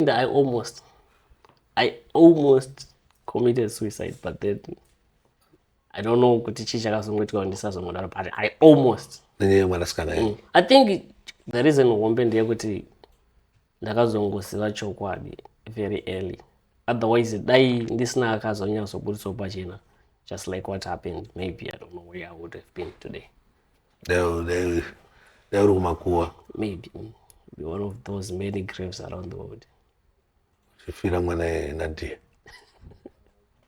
And I almost, I almost committed suicide, but then I don't know kuti chii chakazongoitika kuti ndisazongodaro, but I almost. nenyaya yemwanasikana mm. i think the reason hombe ndeyekuti ndakazongoziva chokwadi very early otherwise dai ndisina akazonyatsoburitsawo pachena just like what happened maybe i don't know where i would have been today dai uri kumakuwa maybe be one of those many graves around the world uchifira mwana yena dear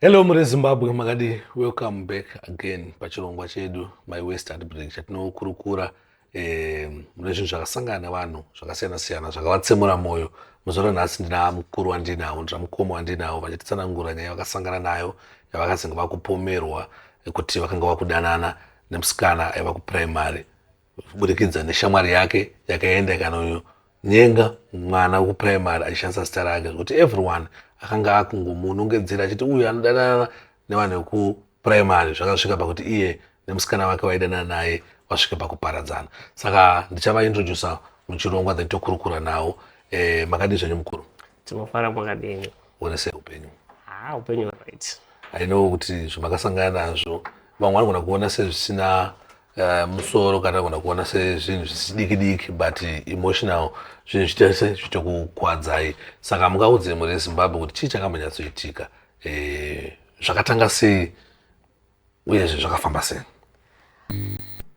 Hello muri Zimbabwe makadii welcome back again pachirongwa chedu my west at break chatinokurukura eh, mune zvinhu zvakasangana nevanhu zvakasiyana siyana zvakavatsemura mwoyo muzoona nhasi ndina mukuru wandinawo ndina mukoma wandinawo vachititsanangura nyaya vakasangana nayo yavakazenge vakupomerwa kuti vakanga vakudanana nemusikana aiva kuprimary kuburikidza neshamwari yake yakaenda ikanonyenga mwana wekupuraimari achishandisa zita rake zvekuti everyone akanga akungomunongedzera achiti uyu anodanana nevanhu vekupuraimari zvakasvika pakuti iye nemusikana wake waidanana naye vasvike pakuparadzana saka ndichavaintroducer muchirongwa then tokurukura nawo e, makadii zvenyu mukuru tinofara makadini one sei upenyu ha ah, upenyu right i know kuti zvamakasangana nazvo vamwe vanogona kuona sezvisina uh, musoro kana kana kuona sezvinhu zvisidiki diki but emotional zvinhu zvitese zvitokukwadzai saka mungaudze mhuri yezimbabwe kuti chii chakambonyatsoitika eh, zvakatanga sei uyezve zvakafamba sei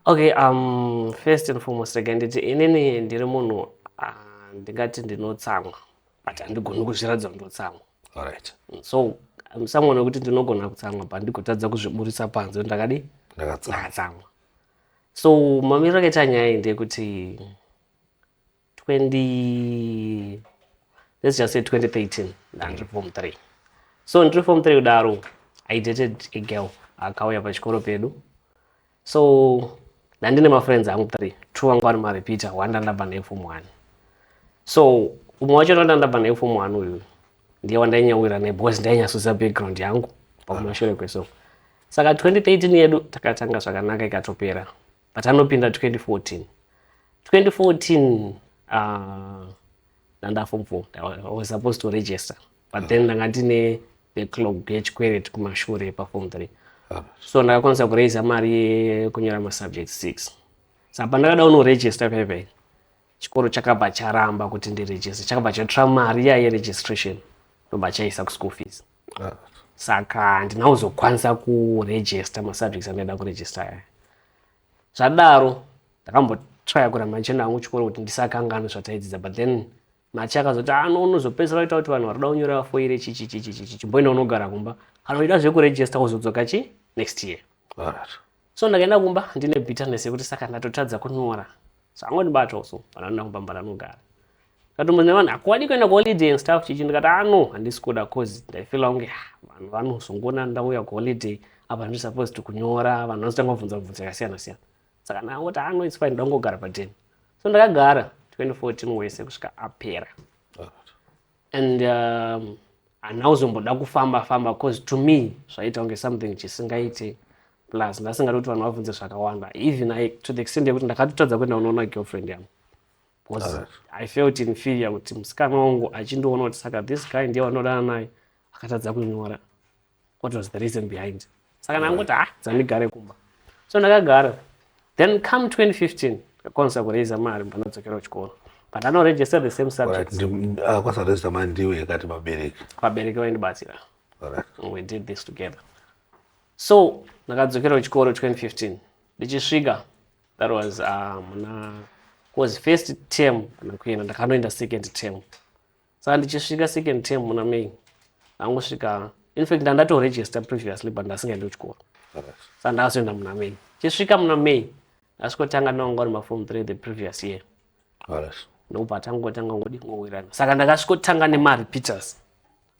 okay um, first and foremost rega nditi inini ndiri munhu ah, ndingati ndinotsamwa but handigoni kuzviratidza kuti ndotsamwa right. Mm, so I'm someone wekuti ndinogona kutsamwa but ndigotadza kuzviburitsa panze kuti ndakadii Ndakatsamwa. ndakatsamwa so mamiriro akaita nyaya iyi ndeyekuti 20 let's just say 2013 ndandiri form 3 so ndiri form 3 kudaro i dated a girl akauya pachikoro pedu so ndandine mafriends angu three two vangu vari marepeater one ndandabva naye form one so umwe wacho ndandabva naye form one uyu ndiye wandainyawira naye because ndainyasudza background yangu pakumashure kwesong saka 2013 yedu takatanga zvakanaka ikatopera but anopinda 2014 2014 uh, ndandafom four i was supposed to register but then ndanga ndine backlog yechikweret kumashure paform three ah. so ndakakwanisa kuraiza mari yekunyora masubject six sa pandakada unoregista paipai chikoro chakabva charamba kuti ndiregiste chakabva chatora mari iya yeregistration ndobva chaisa kuschool fees ah. saka handina kuzokwanisa kuregista masubjects andaida kuregista aya zvadaro ndakambotraya kuramba ndichienda hangu chikoro kuti ndisakanganwe zvataidzidza but then Nachi akazoti ah no unozopedzisira waita kuti vanhu varikuda kunyora vafoire chichi chichi chichi chimboenda unogara kumba kana uchida zvekuregista kuzodzoka chi next year Alright. so ndakaenda kumba ndine bitterness yekuti saka ndatotadza kunyora so angondibatawo so kana ndina kumba mba ndanogara ndikatombo nevanhu hakuwadi kuenda kuholiday and stuff chichi ndikati ah no handisi kuda cause ndaifila kunge "Ah, vanhu vanozongoona ndauya kuholiday apa ndiri supposed to kunyora vanhu vanotanga kubvunza bvunza yakasiyana siyana saka naoti ano its fine ndangogara paden so ndakagara 2014 wese kusvika apera and um, handina kuzomboda kufamba famba bcause to me zvaita kunge something chisingaite plus ndasingadi kuti vanhu vabvunze zvakawanda even I, to the extent yekuti ndakatotadza kuenda unoona girlfriend yangu bcause right. i felt inferior kuti musikana wangu achindiona kuti saka this guy ndiye wandodana naye akatadza kunyora what was the reason behind saka ndangoti ha ah, dzandigare kumba so ndakagara then come 2015 akwanisa kuraiza mari panadzokera kuchikoro but anoregister the same subjectakwanisa ah, kuraiza mari ndiwe yakati vabereki vabereki vaindibatsira we did this together so ndakadzokera kuchikoro 2015 ndichisvika that was ah, muna um, was first term kana kuenda ndakanoenda second term saka ndichisvika second term muna may ndangosvika infact ndandatoregister previously but ndasingaendi kuchikoro saka ndakazoenda muna may chisvika muna may ndasvikotanga ndovanga uri mafom three the previous year ndokubva tangotanga ngodi ngowirana saka ndakasvikotanga nemarepeaters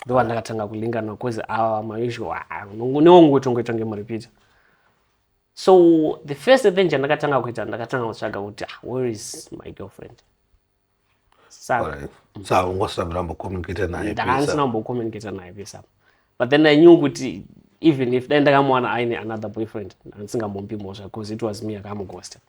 ndova ndakatanga kulingana bcause awa mausual ah, newongotongoita ngemurepeater so the first thing chandakatanga kuita ndakatanga kutsvaga kuti ah, where is my girlfriend saka saungosina kurambokomunicata naye ndakandisina kumbokomunicata naye pesa but then i knew kuti even if dai ndakamuwana aine another boyfriend andisingamumbi mhosva because it was me akamugosta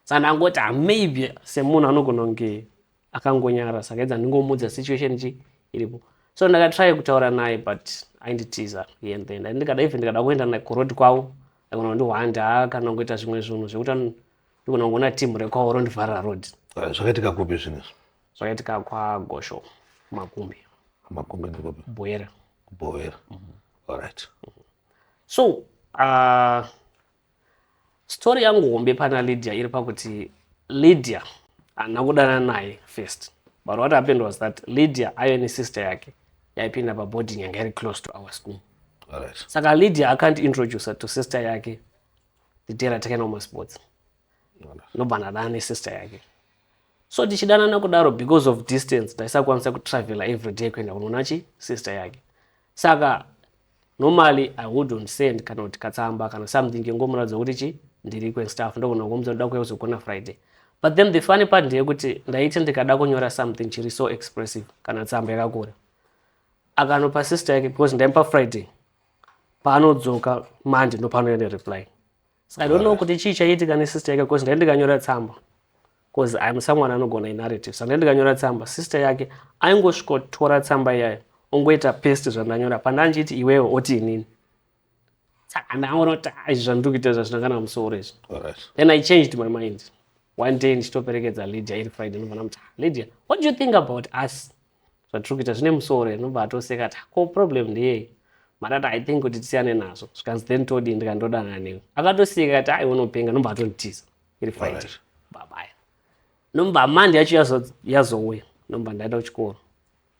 saka ndangoti ah, maybe semunhu anogona kunge akangonyara saka edza ndingomuudza situation chi iripo so ndakatry kutaura naye but ainditiza here and then ndikada even ndikada kuenda naye kuroad kwavo aikona kundihwanda kana kungoita zvimwe zvinhu zvekuti Ndikona kuona team rekwaoro ndivhara road. Ah, zvakaitika kupi zvinezvi? Zvakaitika kwagosho makumbi. Makumbi ndikupi? Bwera. Bwera. Mm -hmm. All right. Mm -hmm. So, uh, story yangu hombe pana Lydia iri pakuti Lydia haana kudana naye first. But what happened was that Lydia ayo nesister yake yaipinda paboarding yanga iri close to our school. All right. Saka Lydia akandiintroducer to sister yake titera takaenda kumasports nobva ndadana nesister yake so tichidanana kudaro because of distance taisakwanisa kutravela every day kuenda kunoona chi sister yake saka normally i wouldn't send kana kuti katsamba kana something ngengomuratidza kuti chi ndiri kwenstaff ndogona kuomudza ndoda kuya kuzogona friday but then the funny part ndeyekuti ndaiti ndikada kunyora something chiri so expressive kana tsamba yakakura akanopa sister yake because ndaimupa friday paanodzoka manje ndopanouya nereply so i don't know kuti chii chaiitika nesister yake bcause ndai ndikanyora tsamba bcause im someone anogona inarrative so ndai ndikanyora tsamba sister yake aingosvikotora tsamba iyayo ongoita pest zvandanyora pandandichiti iwewe oti inini saka ndaonoti ah, izvi zvandiri kuita izva zvina kana musoro izvi then i changed my mind one day ndichitoperekedza lydia iri friday ndobva ndamuti ah, lydia what do you think about us zvatiri kuita zvine musoro here nobva atoseka ta ko problem ndeyei matata i think kuti tisiyane nazvo zvikanzi then todii ndikandodana newe akatoseka kati ai unopenga nobva atonditiza iri fight babaya nomba mandi yacho yazouya nomba ndaenda kuchikoro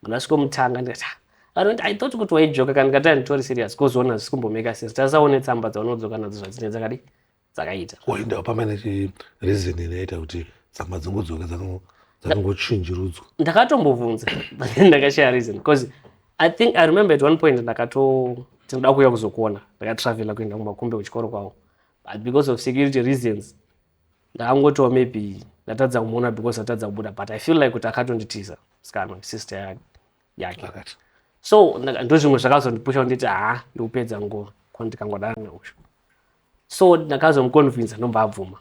mandasvikomutanga ndikati ah, vanoti i thought kuti waijoka kana ndikati anditori serious kozoona zvisi kumbomeka sesi tasaone tsamba dzaunodzoka nadzo zvadzine dzakadi dzakaita wainda pamba nechireason inoita kuti tsamba dzingodzoka dzakangochinjirudzwa ndakatombobvunza ndakashaya reason because i think i remember at one point ndakato tinoda kuuya kuzokuona ndakatravela kuenda kumakumbe kuchikoro kwavo but because of security reasons ndakangotiwa maybe ndatadza kumuona because atadza kubuda but i feel like kuti akatonditiza sikana sister yake so ndozvimwe zvakazondipusha kunditi haa ndikupedza nguva ko ndikangodana neusho so ndakazomuconvinsa ndobva abvuma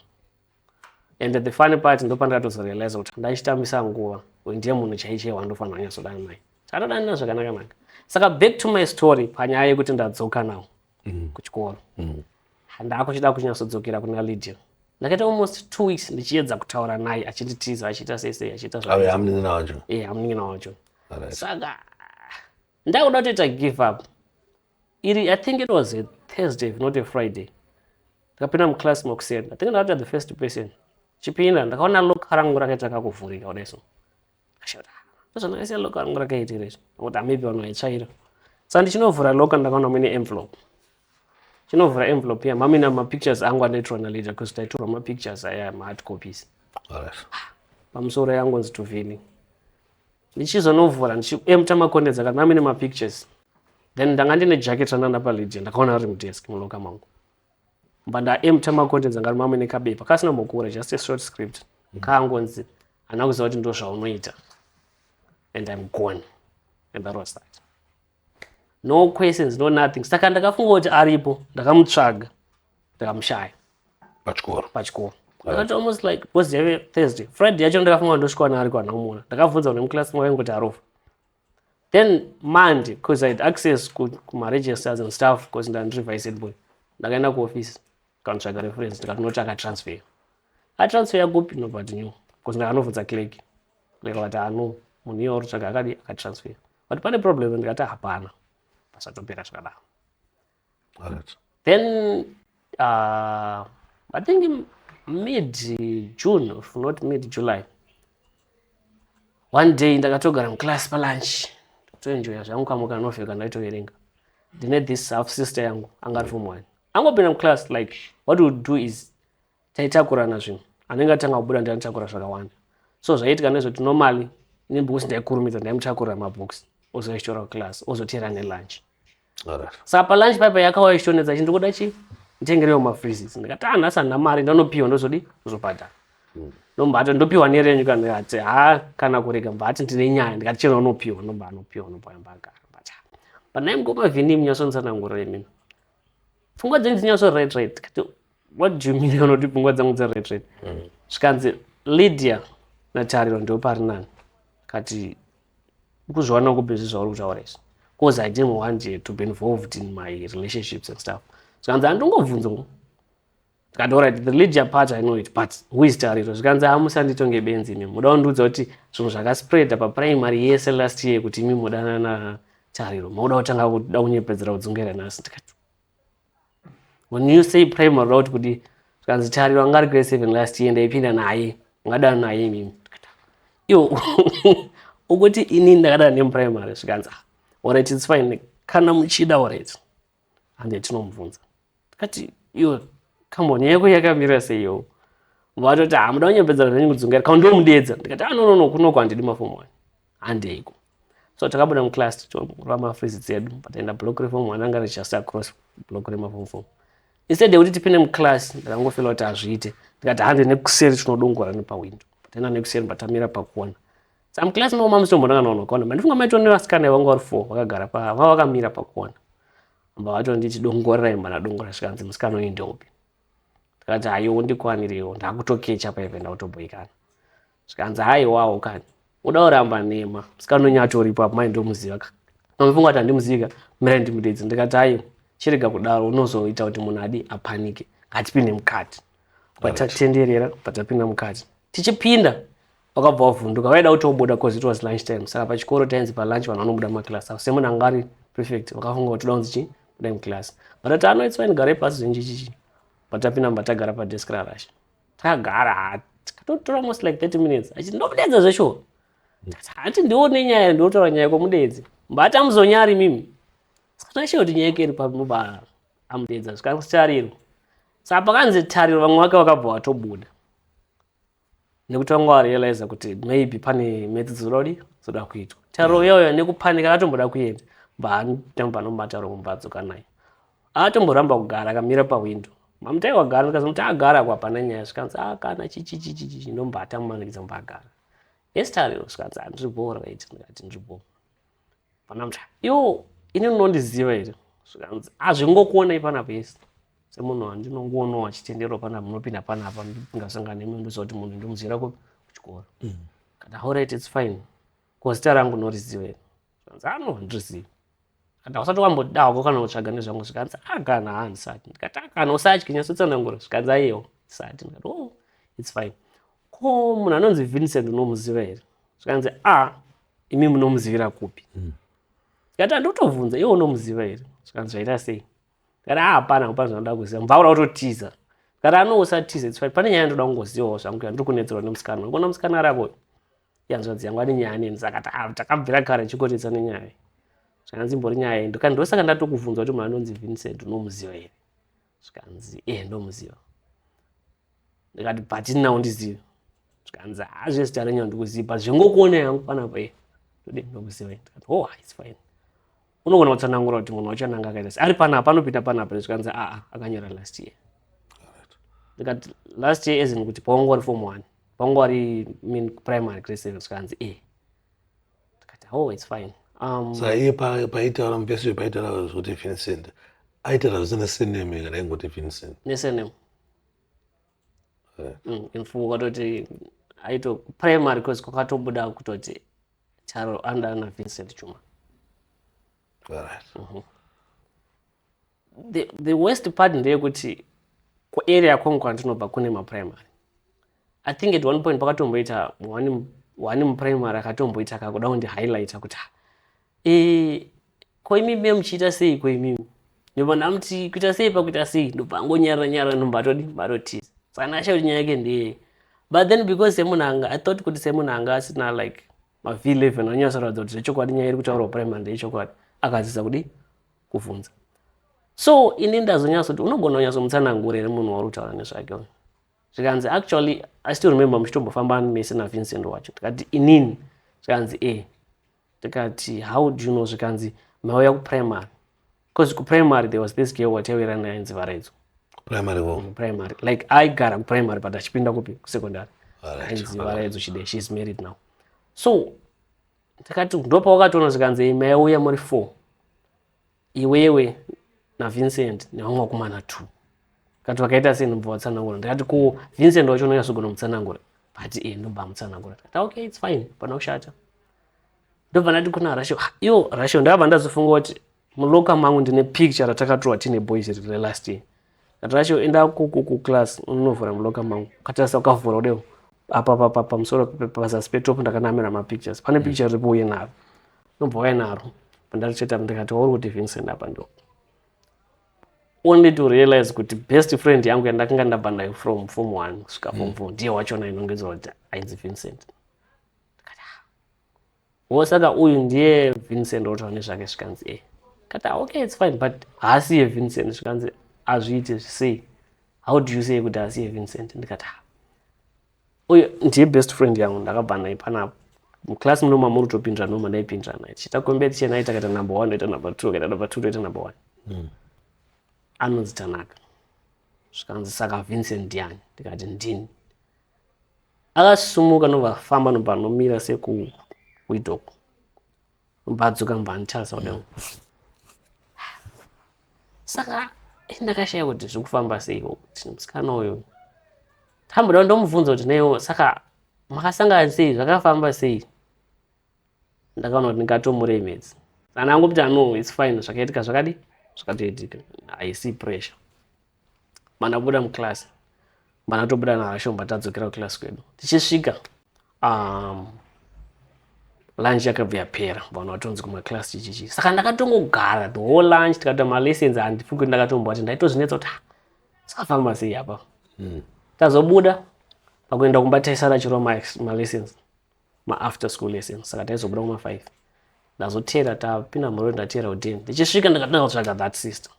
and the funny part ndopandatozorealiza kuti ndachitambisa nguva uyu ndiye munhu chaichee wandofanira kunyasodana naye chatodanina zvakanakanaka saka back to my story panyaya yekuti ndadzoka nawo mm. kuchikoro mm. ndaakuchida kunyatsodzokera kuna lydia ndakaita almost two weeks ndichiedza kutaura naye achinditiza achiita sese achiita zvamunin'ina wacho saka ndakuda kutoita give up iri i think it was a thursday if not a friday ndikapinda muclass mokuseni i think ndakaita the first person chipinda ndakaona lok rangu rakaita kakuvhurika kudai so ndozvandakaisa lok rangu rakaitira izvo kuti maybe vanhu vaitsvaira sa ndichinovhura lok ndakaona muine envelope chinovhura envelope ya mamina mapictures angu anoitirwa naleader because taitorwa mapictures aya mahard copies pamusoro yangonzi tuvini ndichizonovhura ndichiemta makonde dzaka ndanga mine mapictures then ndanga ndine jacket ranana palydia ndakaona ari mudesk muloka mangu mba ndaemta makonde dzanga ari mamine kabepa kasina mokura just a short script mm. kaangonzi handina kuziva kuti ndo zvaunoita and im gone and that was that no questions no nothing saka ndakafunga kuti aripo ndakamutsvaga ndakamushaya pachikoro pachikoro ndakati almost like because yave thursday friday yacho ndakafunga ndosvika wana ari kwana umona ndakabvunza une muclass mwayo kuti arofa then monday because i had access kumaregisters and stuff because ndandiri vice boy ndakaenda kuoffice ndikanotsvaga reference ndikatinoti akatransfer atransfer yakupi nobut new because ndakanovhunza clerk clerk vati ano munhu iye warotsvaga akadi akatransfer but pane problem ndikati hapana pasatopera zvakadaro Alright. then uh, i think mid june if not mid july one day ndakatogara muclass palunch toenjoya zvangu kamwe kanovel kandaitoverenga ndine this half sister yangu anga ari form one angopinda muclass like what would do is taitakurana zvinhu anenge atanga kubuda ndanitakura zvakawanda so zvaiitika nezvekuti normally nebooks ndaikurumidza ndaimutakurira mabooks ozoyashora kuclass ozoteera nelunch saka palunch paipa yakauya ichitonetsa chi ndikuda chi nditengerewo mafreezes ndikati ah nhasi handina mari ndanopiwa ndozodi kuzobhadhara hmm. ndombato ndopiwa nerenyu kana ati ha kana kurega mbati ndine nyaya ndikati chero unopiwa ndomba anopiwa ndombaya mbagara but but naye mukoma vhini munyasonitsanangura imini pfungwa dzenyu dzinyasori right right kati what do you mean unoti pfungwa dzangu dzered red mm. zvikanzi lydia natariro ndo pari nani kati ukuzviwana kupi zvi zvauri kutaura izvi bcause i didn't want to be involved in my relationships and stuff zvikanzi handingobvunza ngo kati orit the lydia part i know it but who is tariro zvikanzi amusanditonge benzi imi muda kundiudza kuti zvinhu zvakaspreada paprimary yese last year kuti imi mudanana tariro mauda kutanga kuda kunyepedzera kudzungera nhasi ndikati when you say prime route kuti zvikanzi tariro anga ari grade seven last year ndaipinda naye ngadana naye mimi iwo ukuti ini ndakadana nemuprimary zvikanzi ah, orit its fine kana muchida orit hande tinomubvunza tikati iwo kamboni yako yakamira seiyowo vatoti hamuda ah, kunyapedzana nenyu kudzungaira kaundiomudedza ndikati anonono ah, kunoko handidi mafomu wani handeiko so takabuda muclass tichirova mafreeze dzedu pataenda block reform mwana anga richast across block remafom fom instead yekuti tipinde muclass ndakangofela kuti hazviite ndikati hande nekuseri tinodongora nepawindo pataenda nekuseri patamira pakuona samclass maoma musitombonakanaona kuona mandifunga maito nevasikana ivanga vari four vakagara paa vava vakamira pakuona amba vato nditi dongorerai mwana dongora zvikanzi musikana uyu ndeupi ndikati hayo undikwaniriwo ndakutokecha paive ndakutoboikana zvikanzi haiwawo kani uda uramba nhema musikana wenyu atoripo apo mai ndomuziva ka mamufunga kuti handimuzivi ka mirai ndimudedzi ndikati aiwa chirega kudaro unozoita kuti munhu adi apanike ngatipinde mukati patatenderera patapinda mukati tichipinda wakabva wavhunduka vaida kuti obuda bcause it was lunch time saka pachikoro tainzi palunch vanhu vanobuda mumaklasi apo semunhu anga ari prefect vakafunga kuti toda kunzi chii buda muklasi vatati ano itswaini garai pasi zvenji chichi patapinda mbatagara padesk rarasha tagara hati katotora most like 30 minutes achiti ndomudeedza zveshuwa hati ndione nyaya ndiotaura nyaya komudeedzi mbata muzonyari mimi sakatashe kuti nyaya keri pamuba amudeedza zvikaritarirwa saka pakanzi tariro vamwe vake vakabva vatobuda nekuti vanga varealiza kuti maybe pane metsi dzirodi dzoda kuitwa tariro mm. iyoyo nekupanika akatomboda kuenda mbaanombatauro kumbatso kanaye Aatomboramba kugara akamira pahwindo. Mamutai wagara ndikazomuti agara kwa hapana nyaya zvikanzi ah kana chichichichichi ndombata mumanikidza mumba agara. Estariro zvikanzi ah ndiri bhoo right ndikati ndiri bhoo. Pana mutai iwo ini unondiziva here zvikanzi hazvingokuonai ah, panapa yese semunhu wandinongoonao achitenderwa pana munopinda panapa ndingasangana nemwe ndoziva kuti munhu ndomuziva kupi kuchikoro mm. kana horit its fine ko zita rangu noriziva here zvikanzi ano ah, handirizivi kana usati wamboda hako kana kutsvaga nezvangu zvikanzi akana ah, ha ndisati ndikati akana ah, usatye nyatsotsanangura zvikanzi aiyewo ndisati ndikati o oh, its fine ko munhu anonzi vincent unomuziva here zvikanzi a ah, imi munomuzivira kupi hmm. ndikati andotobvunza iwe unomuziva here zvikanzi zvaita sei ndikati a hapana hapana zvanoda kuziva mvaura utotiza ndikati anousatiza its fine pane nyaya ndoda kungozivawo zvangu yandiri kunetserwa nemusikana unoona musikana arakoyo yanzwadzi yangu ane nyaya neni saka takabvira kare chikotesa nenyaya zvikanzi imbori nyaya yei ndikati ndosaka ndatokubvunza kuti munhu anonzi vincent unomuziva here zvikanzi e eh, ndomuziva ndikati bhatini nawo ndizive zvikanzi hazve zita renyu handikuziva but zvengokuona yangu panapa e eh, ndode ndomuziva ndikati oh it's fine unogona kutsanangura kuti munhu wacho ananga akaita sei ari panapa anopinda panapa nezvikanzi aa ah, ah, akanyora last year ndikati last year ezin kuti pawangu wari form one pawangu wari min primary grade seven zvikanzi e ndikati oh its fine um, so iye paitaura mupesi paitaura zvekuti vincent aitaura zvisina sename kana ingoti vincent nesename mm, infumo kwatoti aito primary cause kwakatobuda kutoti Taro under ana Vincent Chuma. All right. Mm -hmm. The, the worst part ndeyekuti kuarea kwangu kwandinobva kune maprimary. I think at one point pakatomboita one one muprimary akatomboita kakuda kundi highlighter kuti e, ko imi me muchiita sei ko imimi nevanhu amuti kuita sei pakuita sei ndobva angonyarara nyarara ndomba atodi matotiza saka ndakasha kuti nyaya yake ndeyei but then because semunhu anga i thought kuti semunhu anga asina like mav eleven anyasoratidza kuti zvechokwadi nyaya iri kutaurwa primary ndeyechokwadi akadzidza kudi kuvhunza so ini ndazonyasa kuti unogona kunyatsomutsanangura here munhu wauri kutaura nezvake uyu zvikanzi actually i still remember muchitombofamba mese navincent wacho tikati inini zvikanzi e eh. ndikati how do you know zvikanzi mauya kuprimary bcause kuprimary there was this girl wataivira naye ainzi varaidzo primary wo mm, primary like aigara kuprimary but achipinda kupi kusecondary ainzi varaidzo chide she is married now so ndakati ndopawakatoona zvikanzi maiuya muri four iwewe navincent nevamwe vakomana two kati vakaita sei ndobva vatsanangura ndikati ko vincent wacho unonyasogona mutsanangura but e ndobva mutsanangura kati ah, okay its fine pana kushata ndobva ndati kuna rasho ah, yo rasho ndakabva ndazofunga kuti muloka mangu ndine picture ratakatorwa tine boys riri last year Natasha enda ku class unovhura muloka mangu katarisa ukavhura udewo apa papa pamusoro pazasi petop ndakanamira mapictures pane mm. picture riripo uye naro nobva waya naro pandaricheta ndikati wauri kuti vincent apa ndo only to realize kuti best friend yangu yandakanga ndabva nayo from form one kusvika form mm. four ndiye wachona inongedzwa kuti ainzi vincent wo saka uyu ndiye vincent otaura nezvake zvikanzi e kati ah, okay its fine but haasiye vincent zvikanzi azviite zvisei how do you say kuti haasiye vincent ndikati ha ah, uyu ndiye best friend yangu ndakabva naye panapo muclass munoma muri kutopindira noma ndaipindira naye tichiita kombeti chena aita kaita number one oita number two kaita number two toita number one hmm. anonzi tanaka zvikanzi saka vincent ndiani ndikati ndini Akasimuka nobva afamba nobva anomira sekuwindow uko nobva adzoka nobva anditarisa kudai uko. Saka ini ndakashaya kuti zviri kufamba sei ko kuti musikana uyu tamboda ndomubvunza kuti naiwo saka makasangana sei zvakafamba sei ndakaona kuti ndingatomuremedza saka ndangopita no its fine zvakaitika zvakadi zvakatoitika haisi pressure mana kubuda muclass mana tobuda nahashomba tadzokera kuclass kwedu tichisvika um, lunch yakabva yapera vanhu vatonzi kumaclass chichichi saka ndakatongogara the whole lunch tikatoita malessons handifungi kuti ndakatomboa kuti ndaitozvinetsa kuti ah, sakafamba sei apa mm. tazobuda pakuenda kumba taisara chiro malessons maafter school lessons saka taizobuda kuma five ndazotera tapinda murori ndatera uden ndichisvika ndakatanga kutsvaga that sister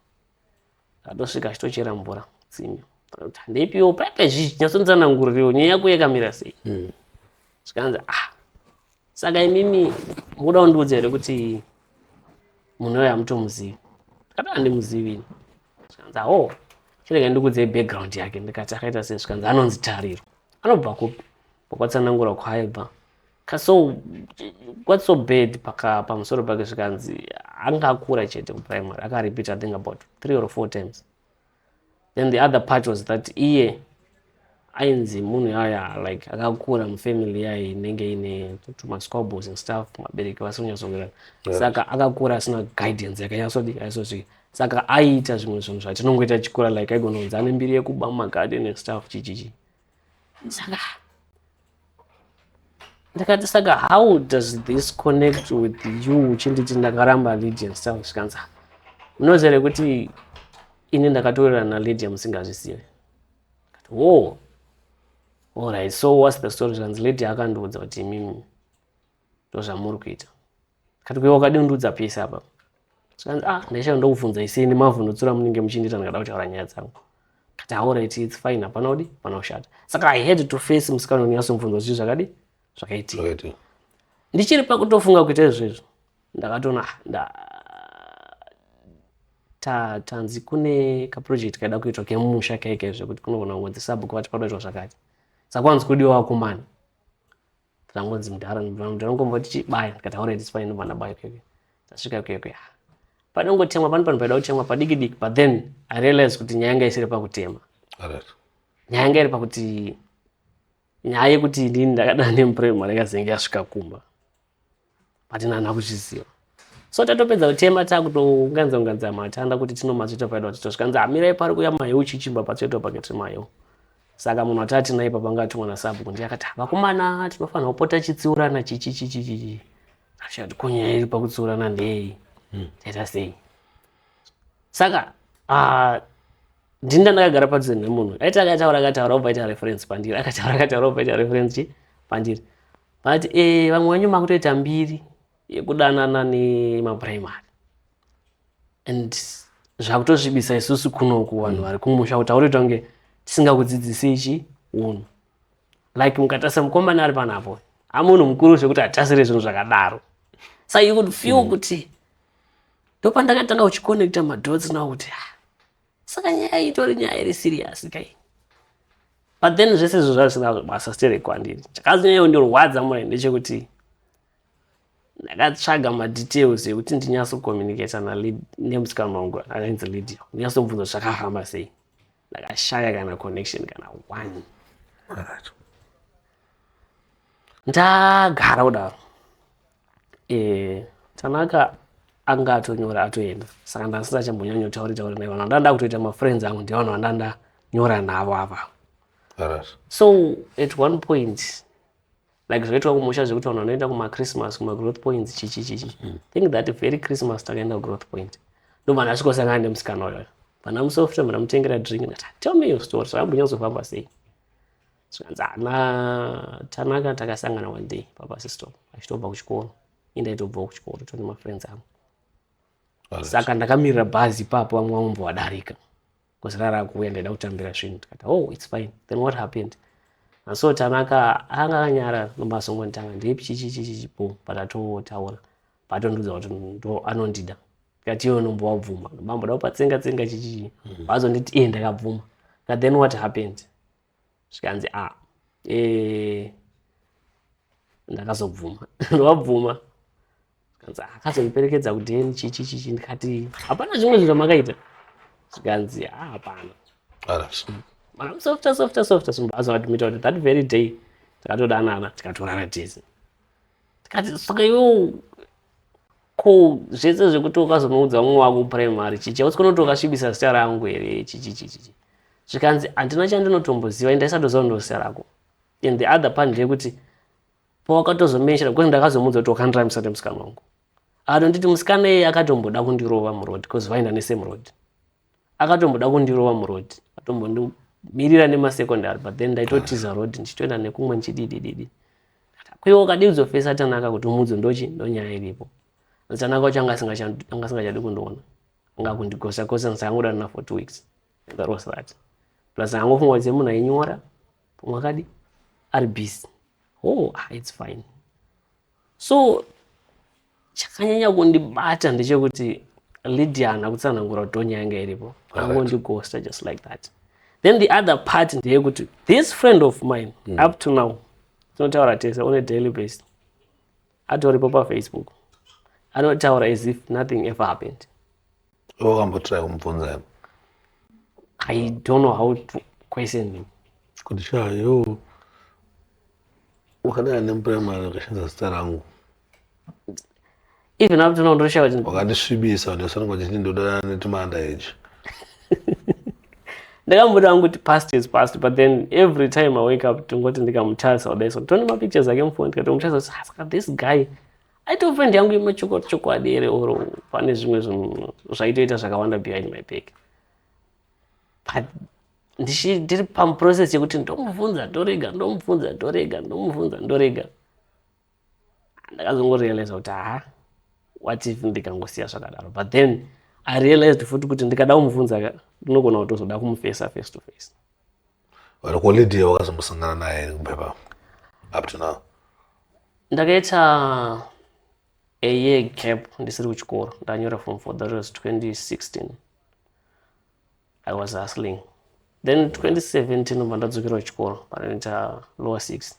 Atosvika achitochera mvura tsime. Handeipiwo paipe zvichi nyatsonzananguririwo nyaya yako yakamira sei. Hmm. Zvikanzi ah saka imimi mukuda kundiudza here kuti munhu uyo hamutomuzivi ndikati handimuzivi ini zvikanzi awo oh, chirega ndikuudzei background yake ndikati akaita sei zvikanzi anonzi tariro anobva kupi pakwatsanangura kwaibva ka so what's so bad paka pamusoro pake zvikanzi anga akura chete kuprimary akarepeat i think about three or four times then the other part was that iye ainzi munhu yaya like akakura mufamily yaye inenge ine tumasquabbles and stuff mabereki vasinonyatsowirirana yeah. saka akakura asina guidance yakanyatsodi aisosvika saka aiita zvimwe zvinhu zvatinongoita chikura like aigononzi ane mbiri yekuba mumagarden and stuff chichichi ndakati saka how does this connect with you uchinditi ndakaramba lydia ndisava zvikanzi unoziva here kuti ini ndakatorerana nalydia musingazvisive wo allright so whats the story zvanzi lydia akandiudza kuti imimi ndozvamuri kuita kati kuiwa kadi undiudza pese apa zvikanzi ah ndaishaya ndokubvunza isini mavhundutsura munenge muchindiita ndikada kutaura nyaya dzangu kati haureti its fine hapana udi hapana kushata saka i had to face musikana unyatsomubvunza zvichi zvakadi zvakaitika Zvakaiti. ndichiri pakutofunga kuita izvezvo ndakatona ah, nda ta- tanzi kune kaproject kaida kuitwa kemumusha kaike zvekuti kunogona kungonzi sabhuku vati panoitwa zvakati sakwanzi kudiwa wakomana Tangonzi mudhara mudhara mudhara ngomboti chibaya ndikati already sipaya ndobva ndabaya keke. Tasvika keke. Panongotemwa pano pano paida kutemwa padiki diki but then I realize kuti nyaya yanga isiri pakutema. Alright. Nyaya yanga iri pakuti nyaya yekuti ndini ndakadana nemuprimary yakazenge yasvika kumba. patina hana kuzviziva so tatopedza kutema takutounganza unganza matanda kuti tinomatsveta paida kuti tosvikanzi amirai pari kuya mayo uchichimba patsveto pakati mayo saka munhu atati naye papangatumwa nasabhuku ndiye akati vakomana tinofanira kupota chitsiurana chichichichichichi achati ko nyaya iri pakutsiurana ndei hmm. taita sei saka ah, ndini ndandakagara padhuze nemunhu aiti akataura akataura obva aita reference pandiri akataura akataura obva aita reference chi pandiri But eh, vamwe venyu makutoita mbiri yekudanana nemaprimary and zvakutosvibisa isusu kunoku vanhu vari kumusha kuti aurita kunge tisingakudzidzisi ichi unhu like mukatarisa mukomana ari panapo amunhu mukuru zvekuti hatasire zvinhu zvakadaro so you could feel mm. kuti ndopandakatanga kuchiconnecta madots now kuti ah, saka nyaya iyi itori nyaya iri siriyasi kai but then zvese izvo zvazvisina basa stere kwandiri chakazonyanya kundirwadza mure ndechekuti ndakatsvaga madetails ekuti ndinyatsokomunicata nemusikana wangu akainzi lidio ndinyatsomubvunza kuti zvakafamba sei ndakashaya kana connection kana one ndagara kudaro eh, tanaka anga atonyora atoenda saka ndasina chambonyanyo tauri tauri naivo ndanda kutoita mafriends angu ndivanhu vandanda nyora navo ava so at one point like zvakaitwa kumusha zvekuti vanhu vanoenda kumachristmas kumagrowth points chichi chichi mm. think that very christmas takaenda kugrowth point ndovanhu asvikosangana nemusikana uyoyo vana musofta mramutengera drink tell me your story so ambonyazofamba sei zvikanzi ana tanaka takasangana one day pabus stop achitobva kuchikoro indaitobvawo kuchikoro tone mafriends angu saka ndakamirira bhazi ipapo vamwe vamombo vadarika bcause rara kuuya ndaida kutambira svinhu tikati oh its fine then what happened and so tanaka anga akanyara nomasongonditanga ndipi chichichichichi bom but atotaura patondiudza kuti ndo anondida tikati iyo nombo wabvuma mambo da kupatsenga tsenga chichichi vazonditi mm. iye ndakabvuma ka then what happened zvikanzi a ah, eh, ndakazobvuma ndovabvuma zvikanzi ah, akazondiperekedza kudheni chichi chichi ndikati hapana zvimwe zvinhu zvamakaita zvikanzi a ah, hapana makamsofta softa softa sumba azoadmita kuti that very day takatodanana tikatorana tese tikati saka iwewo ko zvese zvekuti ukazonoudza mumwe wako primary chichi ausi kunoti ukasvibisa zita rangu here chichichichichi zvikanzi handina chandinotomboziva indaisatoziva ndozita rako and the other part ndeyekuti pawakatozomenshera because ndakazomuudza kuti wakandira musati musikana wangu anonditi musikana iye akatomboda kundirova muroad because vaenda nesame road akatomboda kundirova muroad atombondimirira nemasecondary but then ndaitotiza ah. road ndichitoenda nekumwe ndichididididi kwiwa ukadii kuzofesa atanaka kuti umudzo ndochi ndonyaya iripo atanaka wacho anga asingachadi kundiona anga kundigosa gosa ndisangoda na for two weeks that was that plus angofunga kuti munhu ainyora pamwe akadi ari busy oh ah, it's fine so chakanyanya kundibata ndechekuti lydia haana kutsanangura kuti tonya yanga iripo angondigosta just like that then the other part ndeyekuti this friend of mine mm. up to now tinotaura tese on a daily basis atoripo pafacebook anotaura as if nothing ever happened Iwe wakambotry kumubvunza here? I don't know how to question him. Kuti shaa yo wakadai nemuprimary wakashandisa zita rangu Even up to now ndoshawa kuti wakandisvibisa ndosononga uchiti ndodanana netumanda echi ndakamboda hangu kuti past is past but then every time i wake up tingoti ndikamutarisa kudai so tone mapictures ake mufoni tikati mutarisa kuti "Ah, saka this guy aitove friend yangu yemachokwadi chokwadi here or pane zvimwe zvinhu zvaitoita zvakawanda behind my back but ndiri pamuprocess yekuti ndomubvunza ndorega ndomubvunza ndorega ndomubvunza ndorega ndakazongorealiza kuti haa what if ndikangosiya zvakadaro but then i realized futi kuti ndikada kumubvunza ndinogona kutozoda kumufesa face to face Vanhu ko Lydia wakazombosangana naye here kupepa up to now? Ndakaita a year gap ndisiri kuchikoro ndanyora form four that was 2016 i was hustling then 2017 ndobva ndadzokera kuchikoro panoita lower six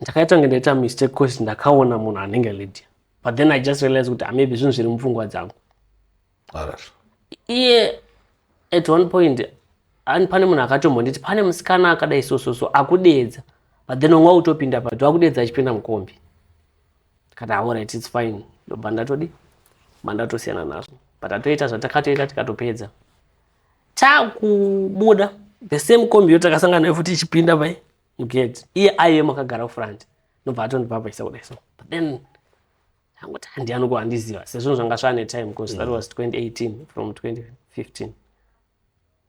ndakaita kunge ndaita mistake cause ndakaona munhu anenge lydia but then i just realize kuti maybe zvinhu zviri mupfungwa dzangu iye at one point ani pane munhu akatombonditi pane musikana akadai sososo akudeedza but then onga utopinda pato akudeedza achipinda mukombi kati aorit its fine ndobva ndatodi mandatosiyana nazvo but atoita zvatakatoita tikatopedza takubuda the same kombi yo takasangana nayo futi ichipinda pai you get iye aive makagara front nobva atondipa paisa kudai so but then angoti handiyani ko handiziva sezvinhu zvanga zvaane time because mm. that was 2018 from 2015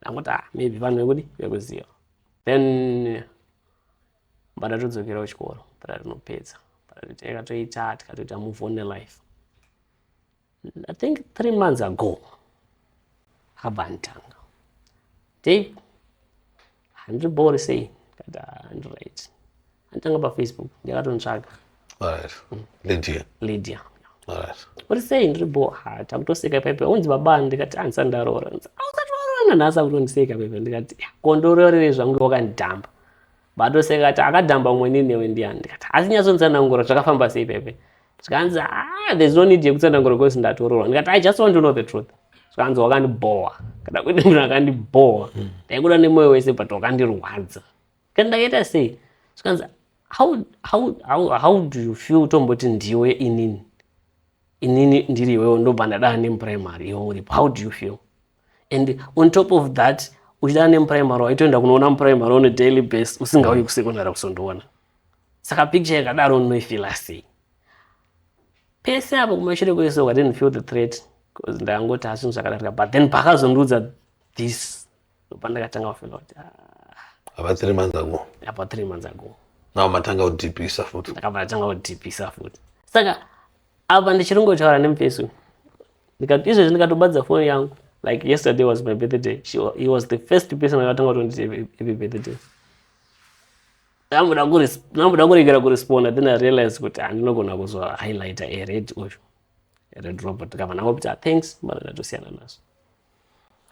angoti ah maybe vanhu vekudi vekuziva then badatodzokerao chikoro badatnopedza badatoteka toita tikatoita move on nelife I think three months ago havantanga Dave handiri bori sei kati handi right anditanga pafacebook ndakatontsvaga lydia lydia uri sei ndiri bo ha takutoseka paipa unzi baba ndikati andisati ndaroora ausati waroorana nhasi akutondiseka paipa ndikati kondoroorere zvangu wakandidhamba batoseka kati akadhamba umwe ninewe ndiyani ndikati asi nyatsonzanangura zvakafamba sei paipa zvikanzi ah there's no need yekutsanangura because ndatoroorwa ndikati i just want to know the truth zvikanzi wakandibhowa kana kuita munhu akandibhowa ndaikuda nemoyo wese but wakandirwadza kani ndakaita sei zvikanzi how, how, how, how do you feel tomboti ndiwe inini inini ndiri iwewo ndobva ndadaa nemuprimary iwe uripo how do you feel and on top of that uchidana nemuprimary waitoenda kunoona muprimary on a daily base usingauyi kusecondary kusondoona saka picture yakadaro unoifila sei pese apo kumashure kwese i didn't feel the threat bcause ndangoti ha zvinhu zvakadarika but then pakazondiudza this pandakatanga kufila kuti ah. apa three months ago apa three months ago now matanga kudipisa futi saka matanga kudipisa futi saka apa ndichiri ngotaura nemuface uyu ndikati izvezvi ndikatobadza foni yangu like yesterday was my birthday She, he was the first person akatanga kutonditi happy birthday ndamboda kuregera kuresponda then i realize kuti handinogona kuzwa highlighter ered uyu ered robert kava navo kuti ah, thanks mara ndatosiyana nazvo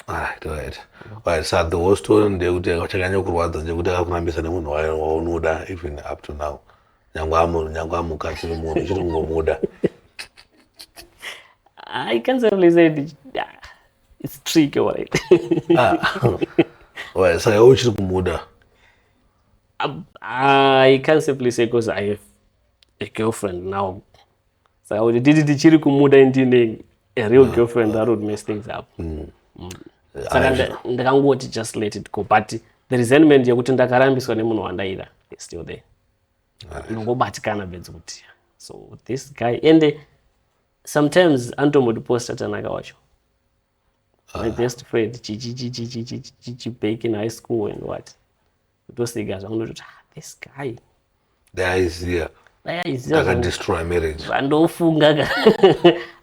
Ah, right. Right. So the whole story ndeyekuti chakanyanya kurwadza ndeyekuti akakurambisa nemunhu waye waunoda even up to now. Nyangwe amu nyangwe amukati nemunhu uchiri kungomuda. I can't really say it. It's tricky, right? ah. Right. So you're uchiri kumuda. I, I can't simply say because I have a girlfriend now saka kuti titi tichiri kumuda ini tiine a real girlfriend that would mess things up mm. Mm. saka nda- ndakangoti just let it go but the resentment yekuti ndakarambiswa nemunhu wandaida is still there ndongobatikana bedzi kuti so this guy ende sometimes anotombotiposta tanaka wacho my best friend chibek in high school and what kutoseka zvangu ndototi ah, this guy dai aiziva dai aiziva akadestroy marriage zvandofunga ka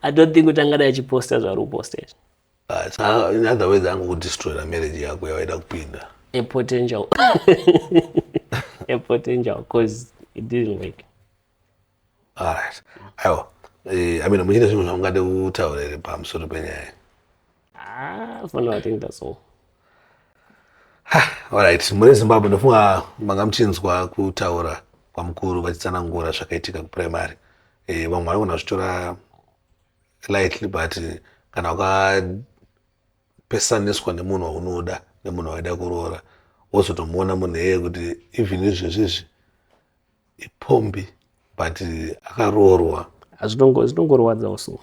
i don't think kuti angadai achiposta zvaari kuposta izvi ah, in other words angu kudestroyera marriage yako yawaida kupinda a potential a potential because it didn't work Alright. Aiwa. Eh, I mean, muchine zvinhu zvamungade kutaura here pamusoro penyaya? Ah, for now I think that's all. Alright, muri Zimbabwe ndofunga manga muchinzwa kutaura kwamukuru vachitsanangura zvakaitika kuprimary. Eh, vamwe vanogona zvitora lightly but kana ukapesaniswa nemunhu waunoda nemunhu waida kuroora wozotomuona munhu eye kuti even izvezvi izvi ipombi but akaroorwa zvinongorwadza usu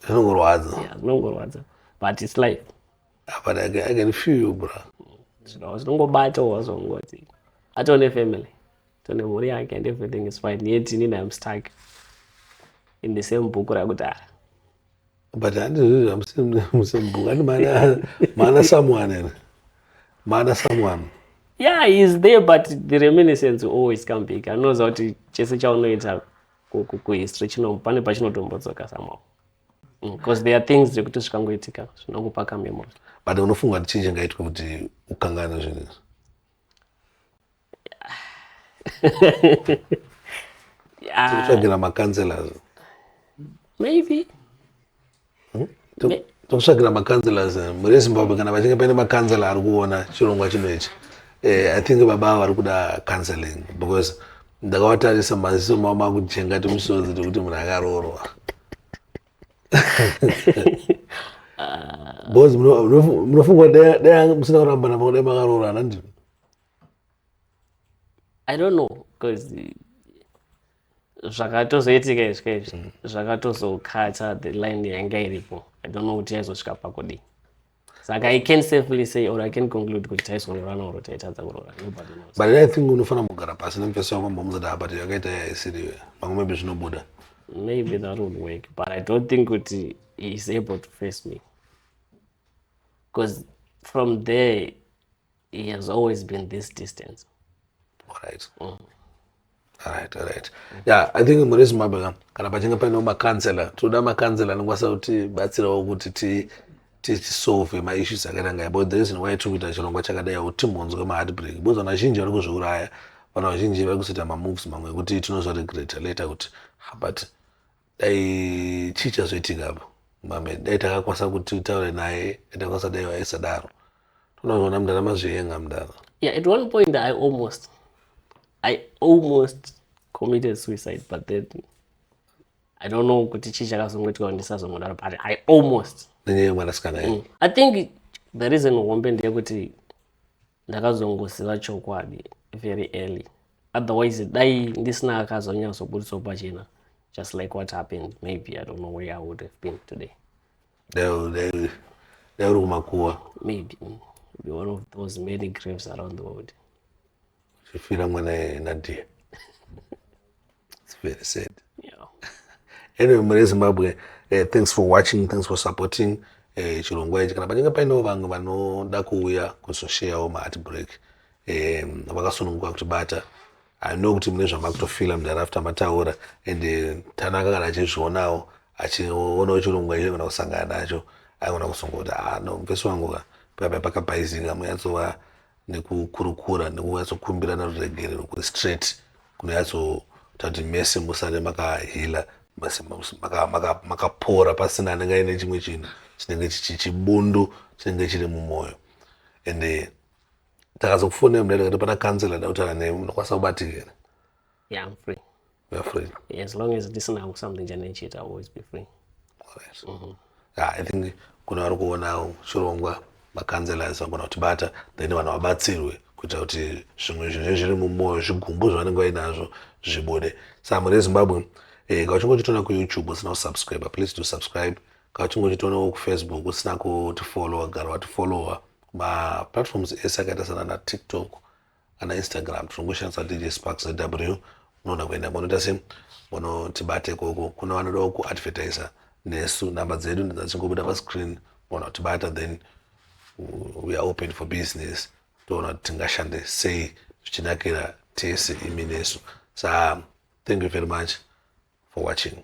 zvinongorwadza zvinongorwadza but its life ah, but I can, I can feel you bra zvinongobata wazongoti atone family tone mhuri yake and everything is fine yet inini im stuck in the same book rakuti ah, but handizvo zvamusemugani maana someone ere maana someone yeah he is there but the reminiscence always come back anoza kuti chese chaunoita kuhistory chino pane pachinotombodzoka somehow because mm, there are things zvekuti zvikangoitika zvinongopa kamemory but unofunga kuti chii chingaitwe kuti ukangana zvinhu izvi Ah, Tikutsvagira macounselors. maybe Hmm? Tu- Me- Tikutsvagira macounselors eh, muri Zimbabwe kana vachinge paine macounselor ari kuona chirongwa chino ichi. Eh, I think baba ava vari kuda counseling because ndakavatarisa maziso mavo makujenga timusodzi tekuti munhu akaroorwa. Because muno- munofu- munofunga kuti dai- dai musina kurambana pakudai makaroorana ndini. i don't know because zvakatozoitika izvika izvi mm. zvakatozokatsa the line yainga iripo i don't know kuti yaizosvika pakudii saka i can safely say or i can conclude kuti taizonyorana or taitadza kurora nobody knows but i think unofanira kugara pasi nemufesi wako mbomudzati apa ti yakaita yaisiriwe pamwe maybe zvinobuda maybe that would work but i don't think kuti he is able to face me because from there He has always been this distance. All right. Mm. Alright, alright. Yeah, I think mune Zimbabwe ka kana pachinge paine makansela tinoda makansela anokwanisa kuti batsirawo kuti ti tisolve maissues akaita ngai but the reason why tiri kuita chirongwa chakadai kuti timbonzwe maheartbreak because vanhu vazhinji vari kuzviuraya vanhu vazhinji vari kuzoita mamoves mamwe ekuti tinozvaregreta later kuti but dai chii chazoitika apo mame dai takakwanisa kuti utaure naye dai takakwanisa dai waisadaro tonaona mndana mazvienga mndana yeah at one point i almost i almost committed suicide but then i don't know kuti chii chakazongoitika ndisazongodaro but i almost nenyaya yemwanasikana mm. i think the reason hombe ndeyekuti ndakazongoziva chokwadi very early otherwise dai ndisina akazonyatsoburitsawo pachena just like what happened maybe i don't know where i would have been today dai uri kumakuwa maybe mm, be one of those many graves around the world uchifira mwana nadia It's very sad. Yeah. anyway, Mure Zimbabwe, uh, thanks for watching, thanks for supporting uh, chirongwa ichi. Kana pachinge painewo vamwe vanoda kuuya kuzosheyawo maart break um, vakasununguka kuti bata I know kuti mune zvamakutofila mudarafta mataura and uh, Tanaka kana achizvionawo achionawo chirongwa ichi kana kusangana nacho aigona kuzongoti ah no mfesi wangu ka papa pakabhaizika muyatsova nekukurukura nekunyatsokumbirana ruregerero kuri straight kunonyatsoita kuti mese musare makahealer mese makapora pasina anenge aine chimwe chinhu chinenge chibundu chinenge chiri mumwoyo and eh, takazokufonera mudai ndikati pana kansela ndautaura nemi munokwanisa kubatikira yeah, You're free. Yeah, as long as ndisina something chandichiita I'll always be free. Alright. Mm -hmm. Yeah, I think kuna vari kuona chirongwa makanzelors vanogona kutibata then vanhu vabatsirwe kuita kuti zvimwe zvinenge zviri mumwoyo zvigumbu zvavanenge vainazvo zvibude samu rezimbabwe eh, ka uchinge uchitoona kuyoutube usina kusubscribe please to subscribe ka uchinge uchitoonawo kufacebook usina kutifollowa gara watifollowa maplatforms ese akaita sana natiktok kana instagram tinongoshandisa dj sparks zw unoona kuenda monoita se monotibate ikoko kuna vanodawo kuadvertiser nesu nhamba dzedu ndidzachingobuda pascreen mona kutibata then we are open for business toona kuti tingashande sei zvichinakira tese imi nesu sa thank you very much for watching